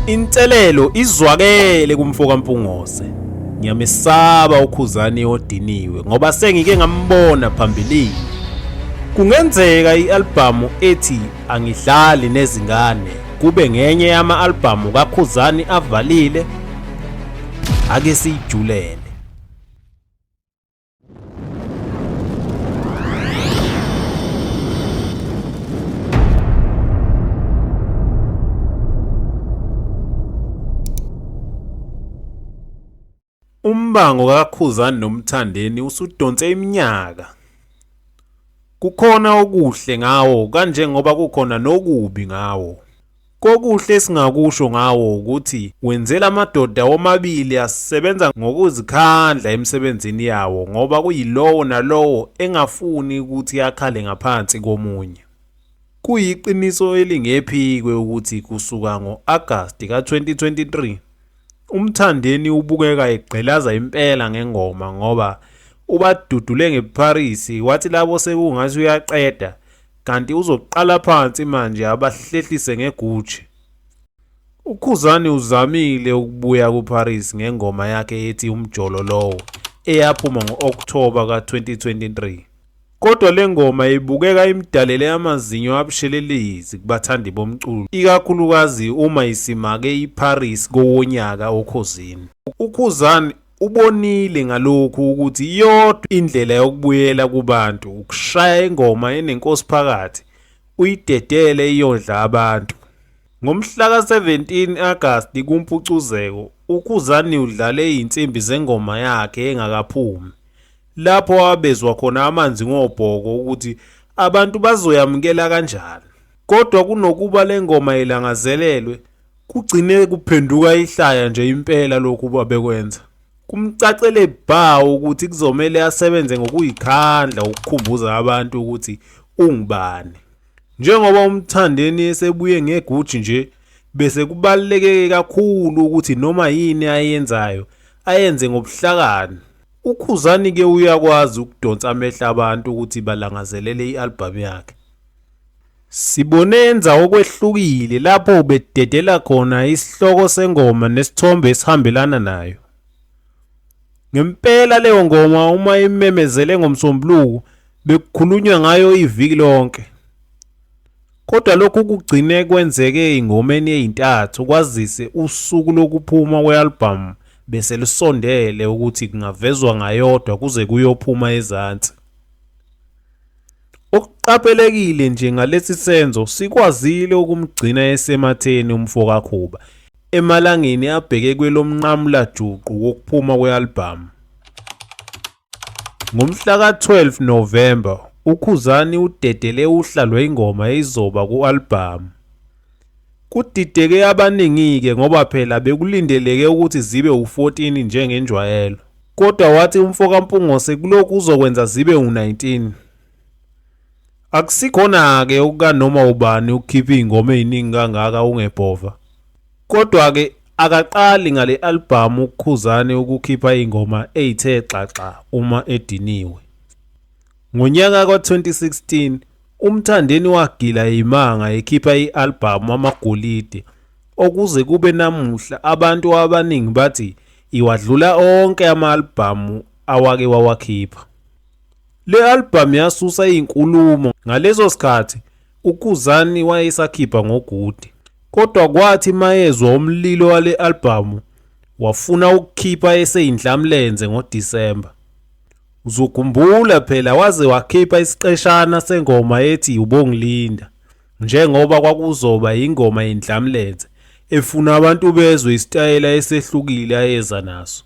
Inselelo izwakele kumfoka Mpungose. Ngiyamesaba uKhuzani odiniwe ngoba sengike ngambona phambilini. Kungenzeka i-albhamu ethi Angidlali nezingane kube ngenye yama-albhamu kaKhuzani avalile ake siyijulele. Umbango kaKhuzani noMthandeni usudonse iminyaka. Kukhona okuhle ngawo kanjengoba kukhona nokubi ngawo. Kokuhle esingakusho ngawo wukuthi wenzela amadoda womabili asebenza ngokuzikhandla emsebenzini yawo ngoba kuyilowo nalowo engafuni ukuthi akhale ngaphansi komunye. Kuyiqiniso elingephikwe ukuthi kusuka ngo-Agasti ka-2023 uMthandeni ubukeka egqilaza impela ngengoma ngoba ubadudule ngeParis wathi labo sekungathi uyaqeda kanti uzoqala phansi manje abahlehlise ngeGucci. UKhuzani uzamile ukubuya kuParis ngengoma yakhe ethi Umjolo Lowo eyaphuma ngo-Okthoba ka-2023. Kodwa le ngoma ibukeka imdalele amazinyo abushelelezi kubathandi bomculo, ikakhulukazi uma isimake iParis kowonyaka okhozini. UKhuzani Ubonile ngalokhu ukuthi iyodwa indlela yokubuyela kubantu ukushaya ingoma enenkosi phakathi uyidedele iyondla abantu. Ngomhla ka-17 Agasti kuMpucuzeko, uKhuzani udlale izinsimbi zengoma yakhe engakaphumi, lapho abezwa khona amanzi ngobhoko ukuthi abantu bazoyamukela kanjani. Kodwa kunokuba le ngoma ilangazelelwe, Kugcine kuphenduka ihlaya nje impela lokhu babekwenza. Kumcacele bha ukuthi kuzomele asebenze ngokuyikhandla ukukhumbuza abantu ukuthi ungubani. Njengoba uMthandeni esebuye ngeguji nje bese kubaluleke kakhulu ukuthi noma yini ayenzayo ayenze ngobuhlakani. UKhuzani ke uyakwazi ukudonsa amehlo abantu ukuthi balangazelele i-albhamu yakhe. Sibonenza okwehlukile lapho ubededela khona isihloko sengoma nesithombe esihambelana nayo. Ngempela leyo ngoma uma imemezele ngomsombuluko bekukhulunywa ngayo iviki lonke. Kodwa lokhu kugcine kwenzeke ingomeni eyintathu kwazise usuku lokuphuma kwe-albhamu bese lusondele ukuthi kungavezwa ngayodwa kuze kuyophuma ezansi. Okuqaphelekile nje ngalesi senzo sikwazile ukumgcina esematheni umfo kaKhuba emalangeni abheke kwelomnqamula juqu wokuphuma kwe-albhamu. Ngomhla ka-12 November uKhuzani udedele uhla lwengoma eyizoba ku-albhamu. Kudideke abaningi-ke ngoba phela bekulindeleke ukuthi zibe u-14 njengenjwayelo, kodwa wathi umfokaMpungose kulokhu uzokwenza zibe u-19. Akusikhona-ke okukanoma ubani ukukhipha izingoma eziningi kangaka ungebhova. Kodwa-ke akaqali ngale albhamu uKhuzani ukukhipha izingoma ezithe xaxa uma ediniwe. Ngonyaka ka-2016 UMthandeni wagila yimanga ekhipha i-albhamu Amagolide okuze kube namuhla abantu abaningi bathi iwadlula onke ama-albhamu awake wawakhipha. Le albhamu yasusa izinkulumo ngaleso sikhathi uKhuzani wayesakhipha ngoGude kodwa kwathi mayezwa umlilo wale albhamu wafuna ukukhipha eseyindlamlenze ngoDisemba. Uzogumbula phela waze wakhipha isiqeshana sengoma ethi ubongilinda njengoba kwakuzoba yingoma yendlamlenze efuna abantu bezwe isitayela esehlukile ayeza naso.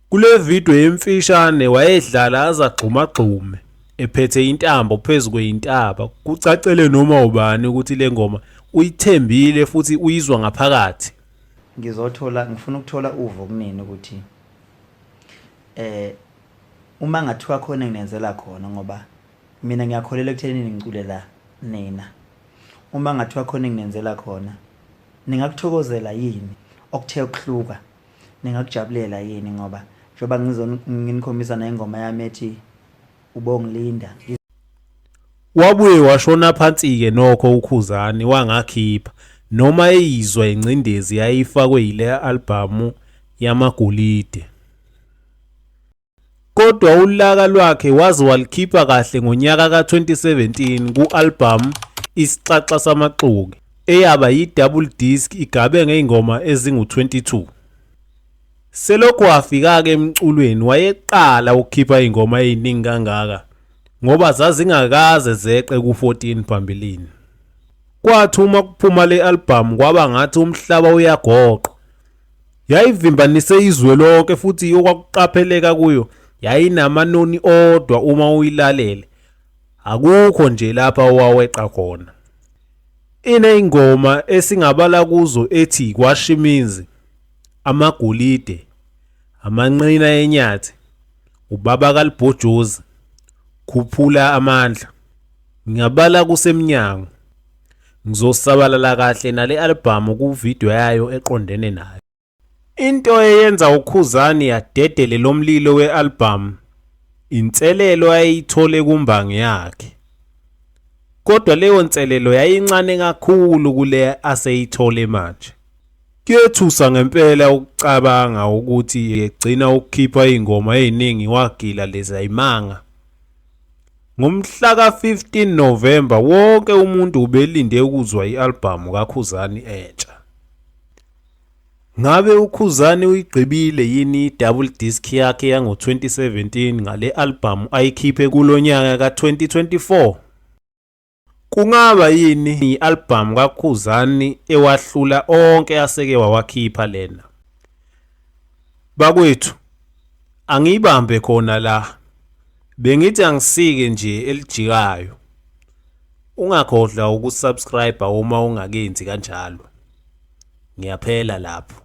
Kule video emfishane wayedlala azagxumagxume ephethe intambo phezu kweyintaba kucacele noma ubani ukuthi le ngoma uyithembile futhi uyizwa ngaphakathi. Ngizothola ngifuna ukuthola uvo kunini ukuthi eh uma ngathiwa khona nginenzela khona ngoba mina ngiyakholela ekuthenini ngiculela nina uma ngathiwa khona nginenzela khona ningakuthokozela yini okuthe ukuhluka ningakujabulela yini ngoba njengoba nginikhombisa nengoma yami ethi ubongilinda wabuye washona phansi-ke nokho ukhuzani wangakhipha noma eyizwa ingcindezi yayifakwe yile albhamu yamagolide kodwa ulaka lwakhe waze walikhipha kahle ngonyaka ka-2017 ku-albhamu isixaxa samaxoki eyaba yi-double disc igabe ngey'ngoma ezingu-22 Selokhu wafika-ke emculweni wayeqala ukukhipha iy'ngoma ey'ningi kangaka ngoba zazingakaze zeqe ku-14 phambilini. Kwathi uma kuphuma le albhamu kwaba ngathi umhlaba uyagoqa. Yayivimbanise izwe lonke futhi okwakuqapheleka kuyo yayinamanoni odwa uma uyilalele. Akukho nje lapha owaweqa khona. Iney'ngoma esingabala kuzo ethi Kwashimizi, amagolide, amanqina enyathi, ubaba kalibhojozi, khuphula amandla. Ngiyabala kusemnyango. Ngizosabalala kahle nale albhamu kuvidiyo yayo eqondene nayo. Into eyenza uKhuzani yadedele lo mlilo we-albhamu inselelo ayeyithole kumbangi yakhe. Kodwa leyo nselelo yayincane kakhulu kule aseyithole manje. Kuyethusa ngempela ukucabanga ukuthi egcina ukukhipha izingoma eziningi wagila lezi ayimanga. Ngomhla ka-15 November wonke umuntu ubelinde ukuzwa i-albhamu kaKhuzani entsha. Ngabe uKhuzani uyigqibile yini i-double disc yakhe yango-2017 ngale albhamu ayikhiphe kulo nyaka ka-2024? Kungaba yini i-albhamu kaKhuzani ewahlula onke aseke wawakhipha lena? Bakwethu, angiyibambe khona la. Bengithi angisike nje elijikayo. Ungakhohlwa ukusubscribe uma ungakenzi kanjalo. Ngiyaphela lapho.